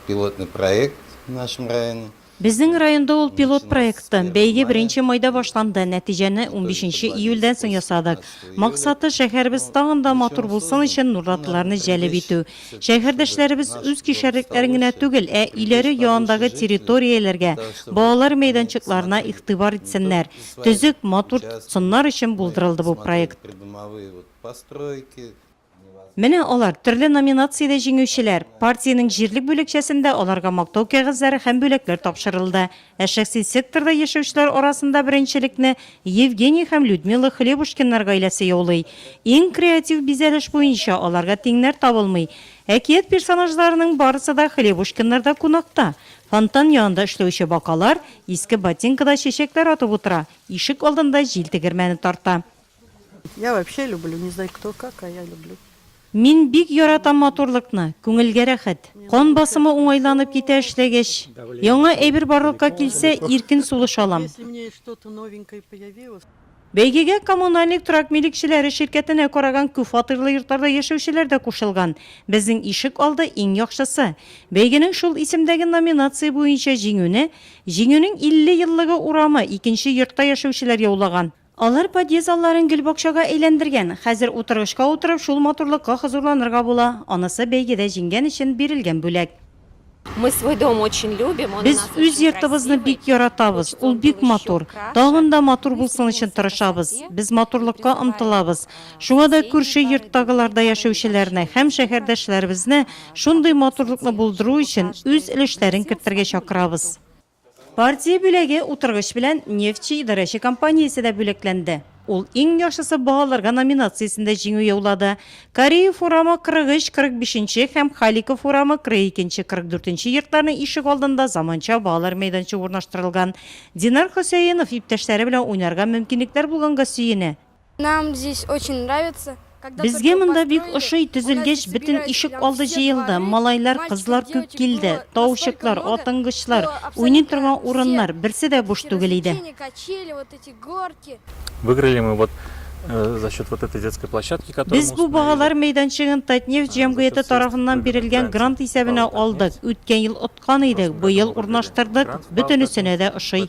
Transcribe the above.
Пилотный проект в нашем районе. Безнең районда ул пилот проекты. Бәйге беренче майда башланды, нәтиҗәне унбишенче июльдән соң ясадык. Максаты, шәһәребез тагын да матур булсын өчен нурлатлыларны җәлеп итү. Шәһәрдәшләребез үз кишәрлекләрен генә түгел, ә өйләре яандагы территорияләргә, балалар мәйданчыкларына игътибар итсеннәр, төзек, матур тотсыннар өчен булдырылды бу проект. Менә алар, төрле номинациядә җиңүчеләр. Партиянең җирлек бүлекчәсендә аларга мактау кәгазьләре һәм бүләкләр тапшырылды. Ә шәхси секторда яшәүчеләр арасында беренчелекне Евгений һәм Людмила Хлебушкиннар гаиләсе яулый. Иң креатив бизәлеш буенча аларга тиңнәр табылмый. Әкият персонажларының барысы да Хлебушкиннарда кунакта. Фонтан янында эшләүче бакалар, иске ботинкада чәчәкләр атып утыра, ишек алдында җил тегермәне тарта. Я вообще люблю, не знаю кто как, а я люблю. Мин бик яратам матурлыкны, күңелгә рәхәт. Кан басымы уңайланып китә эшләгәч. Яңа әйбер барлыкка килсә, иркен сулыш алам. Бәйгегә коммунальник торак милекчеләре ширкәтенә караган күпфатирлы йортларда яшәүчеләр дә кушылган. Безнең ишек алды иң яхшысы. Бәйгенең шул исемдәге номинация буенча җиңүне Җиңүнең 50 еллыгы урамы, икенче йортта яшәүчеләр яулаган. Алар подъезд алларын гел бакчага әйләндергән. Хәзер утыргычка утырып шул матурлыкка хозурланырга була. Анысы бәйгедә җиңгән өчен бирелгән бүләк. Без үз йортыбызны бик яратабыз, ул бик матур. Тагын да матур булсын өчен тырышабыз. Без матурлыкка омтылабыз. Шуңа да күрше йорттагыларда яшәүчеләрне һәм шәһәрдәшләребезне шундый матурлыкны булдыру өчен үз өлешләрен кертергә чакырабыз. Партия бүләге утыргыч белән Нефтьче идарәче компаниясе дә бүләкләнде. Ул Иң яхшысы баһаларга номинациясендә җиңү яулады. Кариев урамы 43-45 нче һәм Халиков урамы 42 нче, 44 нче йортларның ишек алдында заманча балалар мәйданчыгы урнаштырылган. Динар Хөсәенов иптәшләре белән уйнарга мөмкинлекләр булганга сөенә. Нам здесь очень нравится. Безгә монда бик ошый, төзелгәч, бөтен ишек алды җыелды, малайлар, кызлар күп килде, таучыклар, атынгычлар, уйный торган урыннар, берсе дә буш түгел иде. Выиграли мы вот за счет вот этой детской площадки, которую Без бу багалар мәйданчыгын Татнефть җәмгыяте тарафыннан бирелгән грант исәбенә алдык. Үткән ел откан идек, быел урнаштырдык, бөтенесенә дә ошый.